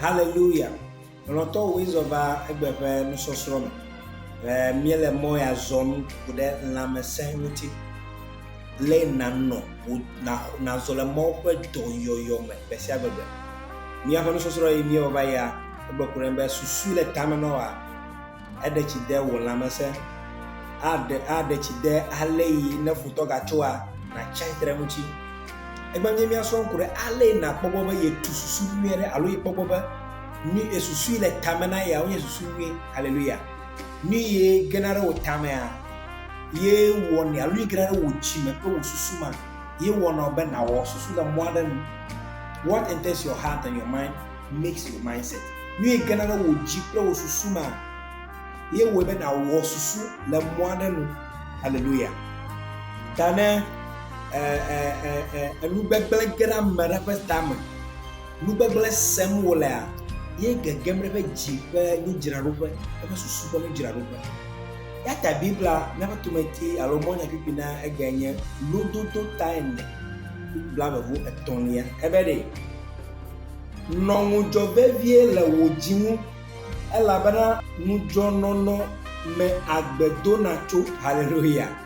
Haleluya! Lɔlɔ̃tɔwoe zɔ va egbe ƒe nusɔsrɔ̃ me. Míele mɔ ya zɔm ku ɖe lãmesẽ ŋuti. lé nànɔ wò na nàzɔ le Mawu ƒe dɔyɔyɔ me gbe sia gbe be, Míaƒe nusɔsrɔ̃ yi míewɔ va yia, egblɔ ko ɖem be, Susu le tame nɔ wòa, eɖe tsi de wò lãmesẽ, aɖe, aɖe tsi de ale yi ne futɔ gatsoa, nàtsi atsitre eŋuti. Egbe nye míasrɔ̃ ŋku ɖe ale yi nàkpɔ gbɔ be yetu susu nyui aɖe alo yekpɔ gbɔ be nu yi susu yi le tame na yea wonye susu nyui. Haleluya! Nu ye gena ɖe wò tamea, ye wɔnɛ alo nu gena ɖe wò dzi me kple wò susu ma, ye wɔnɔ be nawɔ susu le mɔ aɖe nu. What enters your heart and your mind makes your mindset. Nu ye gena ɖe wò dzi kple wò susu ma, ye wɔe be nawɔ susu le mɔ aɖe nu. Hallelujah. Ta ne enu gbegblẽ ge ɖe ame ɖe ƒe tame, Nu gbegblẽ sem wolea, ye gegem ɖe eƒe dzi ƒe nudzraɖoƒe, eƒe susu ƒe nudzraɖoƒe. Yata Biblia míaƒe tometi alo mɔnyakpukpui na egbea nye lododo taene blaeve etɔ̃lia. Ebe ɖe, Nɔ ŋudzɔ vevie le wò dzi ŋu, elabena ŋudzɔnɔnɔ me agbe dona tso. Haleluya!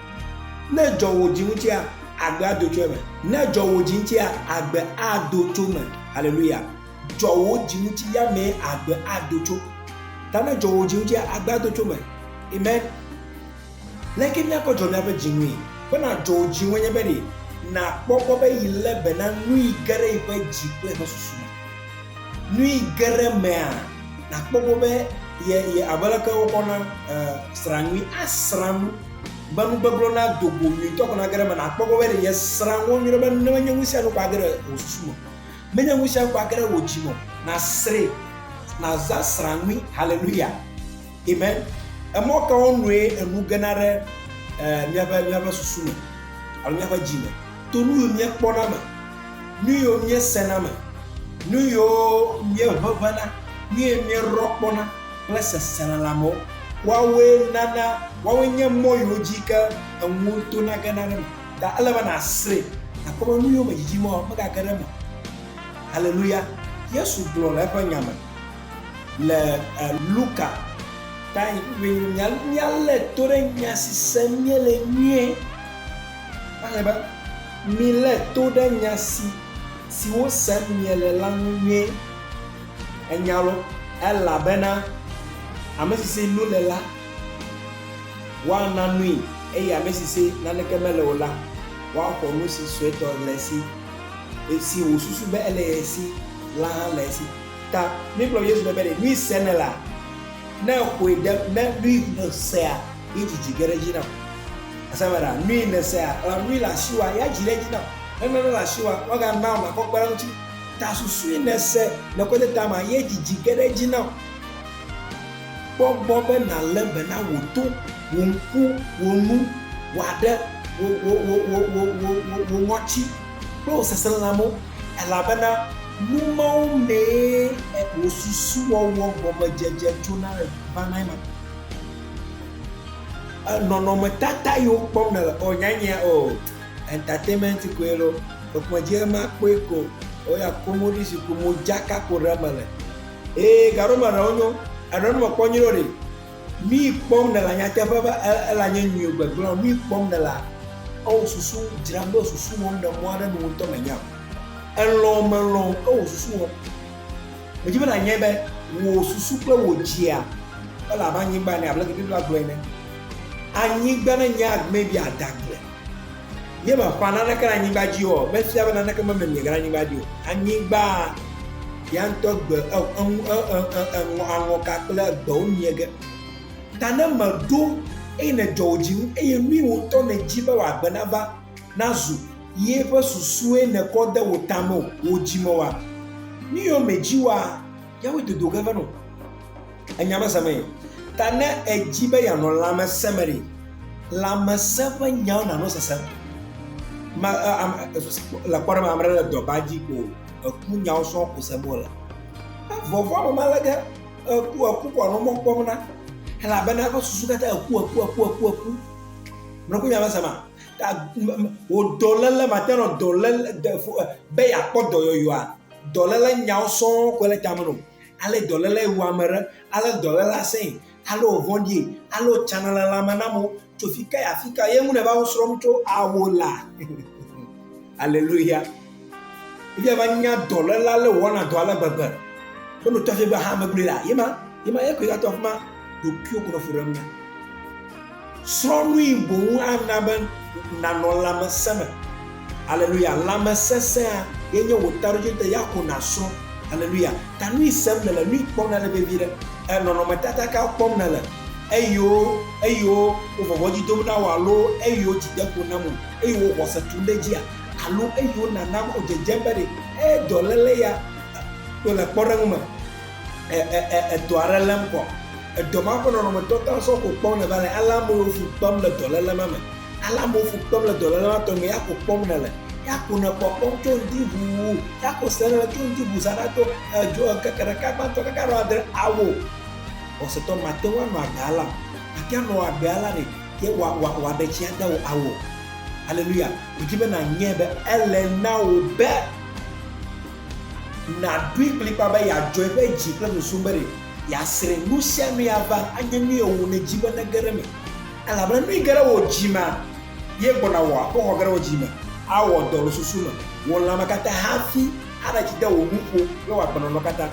Ne dzɔ wò dzi ŋutia, agbe ado tso eme. Ne dzɔ wò dzi ŋutia, agbe ado tso eme. Haleluya. Dzɔ wò dzi ŋuti ya mee agbe ado tso. Ta ne dzɔ wò dzi ŋutia, agbe ado tso eme. Amen. Leke míakɔ dzɔ míaƒe dzi ŋui? Be nàdzɔ wò dzi ŋue nye be ɖe nàkpɔ gbɔ be yi lé be na nui ge ɖe yi ƒe dzi kple yi ƒe susu me. Nui geɖe mea, nàkpɔ gbɔ be ye, ye abe leke wokɔ na e, srã nyui asrã nu be nu gbegblẽ na do go nyuitɔ ko nage ɖe eme. Nàkpɔ gbɔ be ye srã nu nyuie be ne menye nu sia nu ko age ɖe wò susu me, menye nu sia nu ko age ɖe wò dzi me o. Nàsrãe, nàza srã nyui. Haleluya! Amen. Emɔ kawo nue enu gena ɖe míaƒe míaƒe susu me alo míaƒe dzi me to nu yiwo míekpɔna me, nu yiwo míesena me, nu yiwo míeʋeʋẽna, nu yiwo míerɔ kpɔna kple seselelãmewo. Woawoe nana, woawoe nye mɔ yiwo dzi ke enuwo tona gena ɖe me. Ta ele be nàsrẽ, nàkpɔ be nu yiwo me dzidzim woa, megage ɖe eme o. Haleluya! Yesu gblɔ le eƒe nya me. Le Luka ta yi ƒe nya míalé to ɖe nya si sem míele nyuie. Woaxlẽ be, Milé to ɖe nya si siwo sem miele la ŋu nyuie. Ènya loo, elabena ame si si nu le la, woana nui, eye ame si si naneke mele o la, woaxɔ nu si suetɔ le esi. Esi wòsusu be ele ye si la hã le esi. Ta mi kplɔ Yesu ɖe be ɖe nui se ne la, ne xoe ɖe ne nui ne sea yi dzidzi ge ɖe dzi nam. Asa me ɖa nui ne sea ela nui le asi wa ya dzi ɖe dzi nam. Ne nane le asi wa wa ga na ma kɔ kpe ɖe ŋuti. Ta susui ne se le kɔ de ta ma ye dzidzi ge ɖe dzi nam. Kpɔ gbɔ be na le be na wo to, wo ŋku, wo nu, wa ɖe, wo, wo, wo, wo, wo, wo, wo, wo, wo ŋɔti. kple wò seselelãmewo, elabena nu mawo mee wò susuwɔwɔ gɔmedzedze tsona vanae ma. Nɔnɔmetata yiwo kpɔm nèle o nyanyea o entertainment koe lo ekplɔ dzi ema kpɔe ko o ya komo ɖi si ko modzaka ko ɖe mele eye gaɖo me ɖewo nyo eɖewo mekpɔ nyuie ɖe o ɖi. Nui kpɔm nèlea? Nyateƒe be elã nye nyui gbegblẽ. Nui kpɔm nèlea? Ewò susu dzram ɖo susu wɔm ɖe mɔ aɖe nu ŋutɔ mènya o. Èlɔ̃ o mèlɔ̃ o, ewò susu wɔm. Medi be nànyae be wò susu kple wò dzia ele abe anyigba ene, abe aleke Biblia gblɔe ene. Anyigba nenye agbee bia adagble. Míemaƒã naneke ɖe anyigba dzi o, mefia be naneke memem miege ɖe anyigba dzi o. Anyigbaa, ya ŋutɔ gbe e, eŋu, e, e, e, eŋɔ, aŋɔka kple egbewo miege. Ta ne mèɖo eye nèdzɔ wò dzi ŋu, eye nui wò ŋutɔ nèdi be wòagbe nava, nazu, ye ƒe susue nèkɔ de wò ta me o, wò dzi me oa, nu yiwo mèdi oa, yawoe dodo ge va nɔ. Enya me semee. Ta ne èdi be yeanɔ lãmesẽ me ɖe, lãmesẽ ƒe nyawo nanɔ sesem. Ma, am, le kpɔɖe me, ame ɖe le dɔba dzi ko eku nyawo sɔŋ ko sem wole. Vɔvɔa me mele ge eku eku ko anɔ mɔ kpɔm na. Elabena eƒe susu katã eku eku eku eku eku. Mlɔku nya me sema. Wò dɔléle mate nɔ dɔléle be yeakpɔ dɔyɔyɔa. Dɔléle nyawo sɔŋ koe le tame nɔ. ale dɔléle wu ame ɖe, ale dɔléle asẽe, ale wòvɔ̃ɖie, ale wòtsana le lãme na amewo. Tso fi ka yi afi ka ye ŋu nèva wo srɔ̃m tso awo la? Aleluya! Eya va nya dɔléle ale wòwɔna dɔ ale gbegbe. Be nòtɔ fi be ha megblɔe la, ye ma, ye ma, ye koe gatɔ afi ma. Ɖokuiwò ko nɔ fu ɖem na. Srɔ̃ nui boŋ ana be nànɔ lãmesẽ me. Aleluya! Lãmesesẽa ye nye wò taɖodzinu ta ya ko nàsrɔ̃. Aleluya! Ta nui sem nèle, nui kpɔm nèle vevi ɖe, e nɔnɔmetata ka kpɔm nèle, eyiwo, eyiwo wo vɔvɔ̃ dzi dom na wò alo eyiwo dzi de ƒo nam o, eyiwo wò xɔse tum ɖe edzia alo eyiwo nàna be wò dzedzem be ɖe ee dɔléle ya to le kpɔɖeŋu me. edɔ aɖe lém kɔ. Edɔ ma ƒe nɔnɔme tɔta sɔ ko kpɔm nèva le, ale amewo fu kpem le dɔléle ma me. Ale amewo fu kpem le dɔléle ma tɔgbi me, ya ko kpɔm nèle. Ya ko nèkpɔ kpɔm tso ŋdi ʋuu, ya ko se nèle tso ŋdi ʋuu saɖa tso edzo ŋkeke ɖeka gbãtɔ kaka ɖo adre. Ao, xɔsetɔ, màte ŋu anɔ agbe alea o. Màte ŋu anɔ agbe alea ɖe ye wòaɖe tsi ade wò ao. Aleluya! Medi be nànyae be ele na wò be. Nàɖoe kplikpaa be yeadzɔe ƒe dzi kple nusu be ɖe yeasrẽ nusianue ava anye nu ye wòne dzi be nege ɖe eme. Elabena nui ge ɖe wò dzi mea, ye gbɔna wò akpɔxɔ ge ɖe wò dzi me, awɔ dɔ le susu me, wò lãme katã hafi aɖe tsi de wò nuƒo kple wò agbenɔnɔ katã.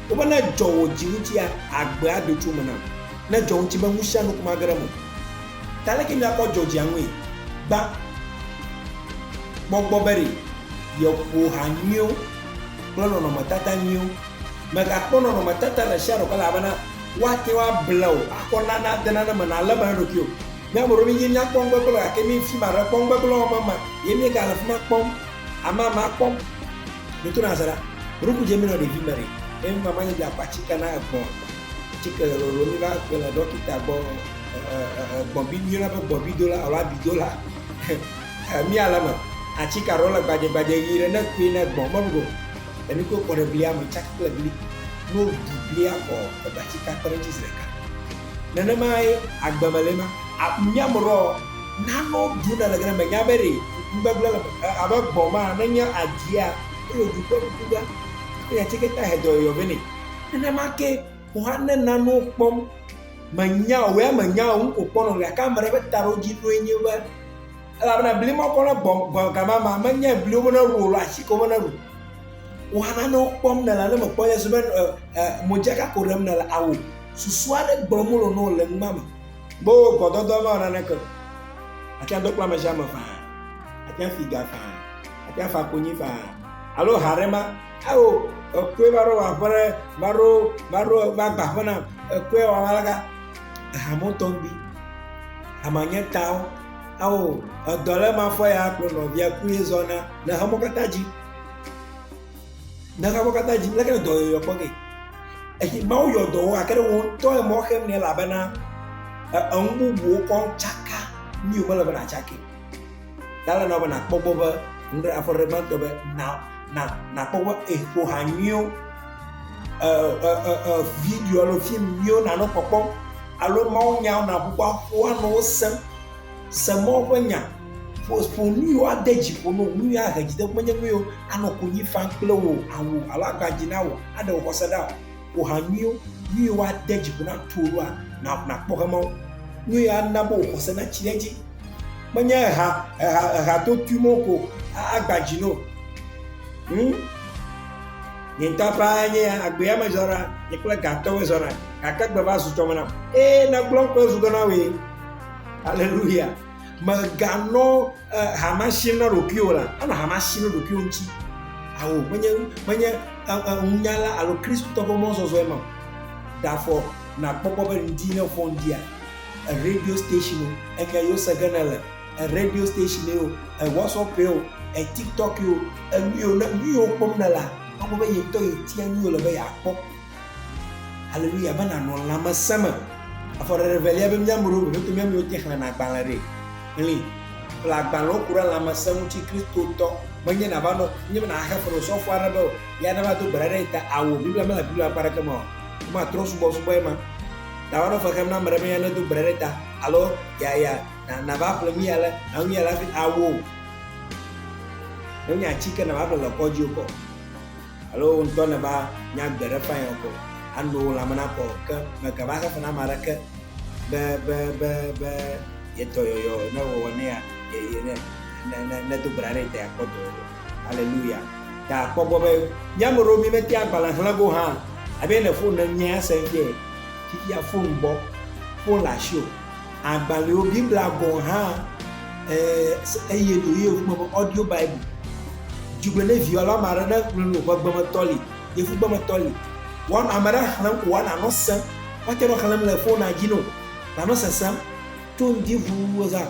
Wobe ne edzɔ wò dzi ŋutia, agbea ado tso eme na wò. Ne edzɔ ŋuti be nusianu ko mage ɖe eme o. Ta leke miakpɔ dzɔdzɔea ŋue? Gbã gbɔgbɔ be ɖe yeƒo ha nyuiwo kple nɔnɔmetata nyuiwo. Mègakpɔ nɔnɔmetata ɖe sia ɖe o ke elabena woate ŋu able wò akɔ na nade nane me nàlé be na ɖokui o. Mía ame ɖewo mídi míakpɔ nugbegblẽ gake mí fi ma ɖe kpɔ nugbegblẽ wɔm ema ye míegale fi ma kpɔm amama kpɔm. Mí tona azaɖa. Ɖe wokudze mí nɔ ɖevime ɖe eye mí mamã nye dzi le akpatsi ke na egbɔ̃. tsike le lolo mi va ƒle le ɖɔkita gbɔ gbɔbi mi yɔna be gbɔbi dola alo abi dola mi ale me atsike aɖewo le gbadze gbadze ɣi ɖe ne kui ne gbɔ mɔlu go le mi ko kɔ ɖe blia me tsaki kple bli no ɖi blia kɔ ebe atsike akpe ɖe ŋuti zi ɖeka nenema ye agbe me le ma mi ame ɖɔ nano ɖu ne le gene me nya be ɖe ŋgbegble le abe gbɔ ma ne nye adia ele ɖu kple ŋku be ne atsike ta he dɔyɔyɔ be ne Nenema ke wò hã ne nanewo kpɔm, mènya o, wò ya mènya o, nu ko kpɔ nɔm gake ame ɖe ƒe taɖodzinue nye be, elabena bli ma kɔ nagbɔ gbɔ gama ma, menyae bliwo be neɖu o alo ati kewo be neɖu. Wò hã nanewo kpɔm nèle alo mèkpɔ nye si be modzaka ko ɖem nèle ao. Susu aɖe gblɔm wole na wò le nua me. Be wò gbɔdɔdɔ mawɔ naneke o. Àte ŋu ado kple ame sia ame faa, àte ŋu afi ga faa, àte ŋu afa konyi faa alo ha aɖe ma Ao, èkɔe va ɖo wòaƒe ɖe, va ɖo, va ɖo, va gba aƒe nam, èkɔe wòava ɖe ga. Eha mo tɔ ŋgbi. Ama nye tawo. Ao, edɔ le ma fɔ ya kplɔ nɔvia kple zɔna le xemɔ katã dzi. Le xemɔ katã dzi, leke le dɔyɔyɔ kpɔ ge? Eyi Mawu yɔ dɔ wo gake ɖe wò ŋutɔ emɔ xem nɛ elabena eŋu bubuwo kɔŋ tsaka, nu yi wò mele be nàtsakɛ o. Dala na be na kpɔgbɔ be nɖe afɔ ɖe gbãtɔ be na na na kpɔgbɔ eƒo ha nyuiwo ɛ ɛ ɛ ɛ video alo fim nyuiwo na nɔ kpɔkpɔ alo mawu nyawo na ƒoƒo aƒo anɔ wo sem se mawu ƒe nya ƒo ƒo nuyiwo ade dzi ƒo no nuyi ahe dzideƒo menye nuyiwo anɔ konyi fam kple wò awu alo agba dzi na wò aɖe wò xɔse ɖa o. wò ha nyuiwo, nyuiwo ade dzi ƒo na tuo ɖoa, na nakpɔ hemawo. Nyuie ana be wò xɔse natsi ɖe edzi. Menye eha, eha, eha to tui mo ko agba dzi no. Hmm? Nye ŋutɔ ƒe anye agbea me zɔna, nye kple gatɔwo zɔna, gake gbe va zu tsɔme nam. Ee, nagblɔ kple zu gɔna wee. Aleluya. Meganɔ hama sim na ɖokuiwò la, enɔ hama sim na ɖokuiwò ŋuti. Awo, menye, menye ŋunyala alo Kristotɔ ƒe mɔzɔzɔe ma. Ɖafɔ nakpɔkpɔ be ŋdi ne vɔ ŋdia, radio station o, enya yewo se ge ne le, radio station o, WhatsApp o, TikTok o, enu yewo, nu yewo kpɔm ne la, akpɔ be yetɔ yetia nu yewole be yeakpɔ. Haleluya be nanɔ lãmesẽ me. Afɔ ɖeɖe evelia be mía amewo vevetɔ mía amewo te xlẽna agbalẽ ɖe. Xlẽ. Ƒle agbalẽ wo ku ɖe lãmesẽ ŋuti Kristotɔ. Menye nàva nɔ nye be nàxe fe nɔ sɔfo aɖe be ya nava do gbe ɖa ɖe ŋuta ao. Biblia mele Biblia ƒe akpa aɖeke me o. Womatrɔ subɔsubɔe ma. Nàva nɔ fe xem na ame ɖe be ya nedo gbe ɖa ɖe ta alo ya ya nàva ƒle nu ya le na nu ya le hafi ao. Menye atike nàva ƒle le kɔdzi o kɔ. Alo wò ŋutɔ nèva nya gbe ɖe ƒãe ɔkɔ, ano wò lãme nakɔ o, ke mègava xexe na ame aɖeke be, be, be, be ye dɔyɔyɔ ne wòwɔ nɛ ya, ye, ye, ne, ne, ne, nedo gbe ɖa ɖe ye ta yeakpɔ dɔyɔyɔ. Aleluya. Ta kpɔ egbɔ be mía ame ɖewo mímetea agbalẽ xlẽ go hã abe ne fon ne ŋ nyea, ese ŋkee, fifia fon bɔ, fon le asiwò. Agbalẽwo, Biblia gɔ̃ hã, eye ɖewohĩ wogblɔ be Audio Bible. Dzi gbe ne viwò alo ame aɖe ne ŋlɔ nu ƒe gbemetɔ li, yevugbemetɔ li. Wɔna, ame aɖe xlẽm ko wɔna nɔ sem. Woate nɔ xlẽm le fonua dzi nɛ o, nanɔ sesem. To ŋdi ŋu zã.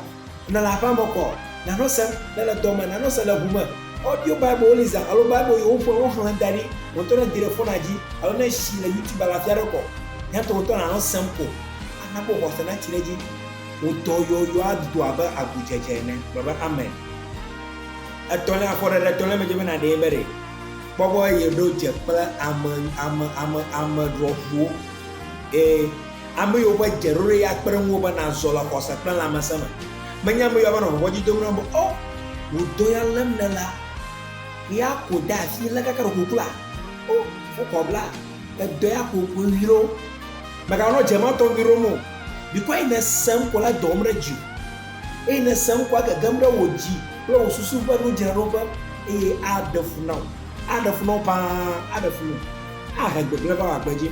Ne le aƒea me kɔ, nanɔ sem. Ne le dɔ me, nanɔ sem le ŋu me. Audio Bible li zã alo Bible yi woƒo alo woxlẽ da ɖi, wò ŋutɔ ne di ɖe fonua dzi alo ne esi le YouTube alo afi aɖe kɔ, nyatɔ ŋutɔ nanɔ sem ko. Ana wò xɔse natsi ɖe edzi. Wò dɔ yɔyɔ ado abe agudzedze ene. Gblɔ be, Amen. Etɔ̃lia, afɔɖeɖe etɔ̃lia me dze be nàɖee be ɖe. Kpɔ egbɔ eye ɖo dze kple ame, ame, ame, ame ɖɔʋuwo. Ee, ame yiwo ƒe dzeɖoɖo ya kpe ɖe ŋuwò be nàzɔ le xɔse kple lãmesẽ me. Menye ame yiwo ava nɔ vɔvɔ̃dzi dom nam be, O, wò dɔ ya lém nèlea? Ɣea ko de asi lé kaka ɖokuiwò kpla? O, wokɔ bla edɔ ya ko koe ɣi ɖo. Mèganɔ dze ma tɔgbi ɖom o. Mikɔ eyi nèse ŋkɔ la dɔwòm ɖe dziwò, eyi nèse ŋkɔa gegem ɖe wò dzi kple wò susu ƒe nudzraɖoƒe, eye aɖe fu na wò. Aɖe fu na wò ƒãa, aɖe fu na wò, ahe gbegblẽ va wò agbe dzi,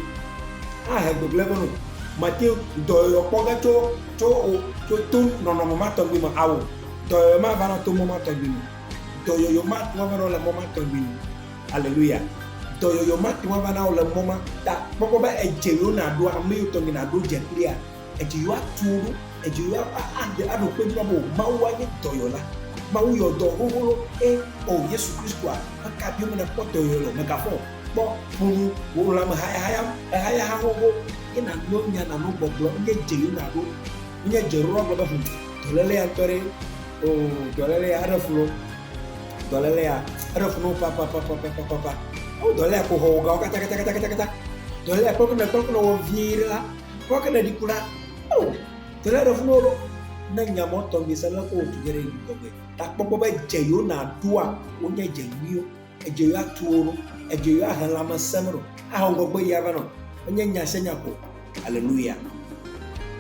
ahe gbegblẽ va nɔwò. Màte ŋu dɔyɔyɔ kpɔ ge tso, tso wò, tso to nɔnɔme ma tɔgbi me ao. Dɔyɔyɔ mava na to mɔ ma tɔgbi me o. Dɔyɔyɔ matu ava na wò le mɔ ma tɔgbi me o. Aleluya! Dɔyɔyɔ ma te ŋu ava na wò le mɔ ma ta. Kpɔkpɔ be edze yɔ nàɖo ame yɔ tɔgbi nàɖo dze kplia, edze yɔ atu wò ɖo, edze yɔ aɖe aɖo kpe dzi na be Mawu anye dɔyɔla. Mawu yɔ dɔ xoxo ɖo eye o Yesu Kristoa ƒe ka biɔ be nàkpɔ dɔyɔyɔ le o. Mègafɔ o. Kpɔ ŋunu wò lãme hayahayam, ehayaha xoxo ye nàno nya, nàno gbɔgblɔ. Enye dze yɔ nàɖo. Menye dze ɖoɖo agblɔ be, Hum, dɔlélea ŋutɔ ɖee. Oo, dɔlélea, eɖe fu loo. Dɔlélea, eɖe fu no papapapapapapa. Ewu dɔlélea ko hɔ wogawo katakatakatakatakata. Dɔlélea kpɔke ne kpɔke ne wɔ vie ɖe la, kpɔke ne ɖi ku la. O, dɔlélea ɖe fu no ɖo. Ne nya mɔ tɔ mi se le ko wotu ge ɖe yi tɔgbe. Ta kpɔkpɔ be dze yo na ɖoa wonye dze nyuiwo. Edze yo atu wo ɖo. Edze yo ahe lãmesẽ me ɖo. Ahɔ ŋgɔgbe yi ava nɔ. Enye nya se nya ko. Aleluya!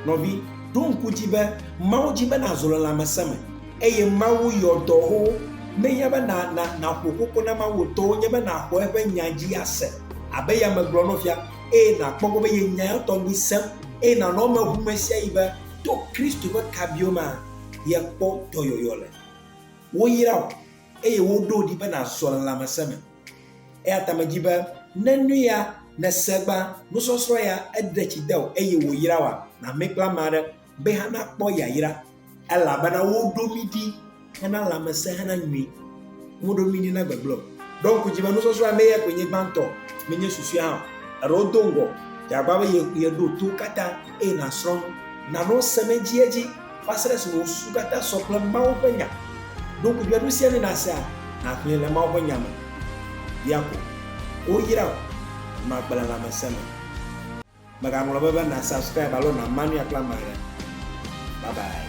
Nɔvi, ɖo ŋku edzi be Mawu di be nàzu le lãmesẽ me eye Mawu yɔ dɔ wò menye be nàƒo koko na Mawu o. Dɔ wò nye be nàxɔ eƒe nya dzi ase abe ye ame gblɔ nɔvia eye nàkpɔ gbɔ be ye nya ya tɔgbi sẽ eye nànɔ eme ŋu ɣesiaɣi be to Kristo ƒe kabiwo mea yekpɔ dɔyɔyɔ le. Woyra wò. eye woɖo wò ɖi be nàzɔ le lãmesẽ me. Eya ta medi be ne nu ya nèse gbã, nusɔsrɔ̃ ya eɖe tsi de wò eye wòyra wòa, nàmee kple ame aɖe be hena kpɔ yayra, elabena woɖo mí ɖi hena lãmesẽ hena nyui, womeɖo mí ɖi na gbegblẽ o. Ɖo ŋku dzi be nusɔsrɔ̃ ya meye koe nye gbãtɔ, menye susɔe hã o. Eɖe wodo ŋgɔ, dze agbagba be yeɖo to wo katã eye nàsrɔ̃ nu, nànɔ se me edziedzi. va se ɖe esime wò susu katã sɔ kple Mawu ƒe Nya. Ɖo ŋku biaɖo sia ne nàsea, nàxlẽe le Mawu ƒe Nya me. Bia ko. Woyra wò. Màgbe le lãmesẽ me o. Mègaŋlɔ be be na subscribe alo na mania kple amagã. Bye bye.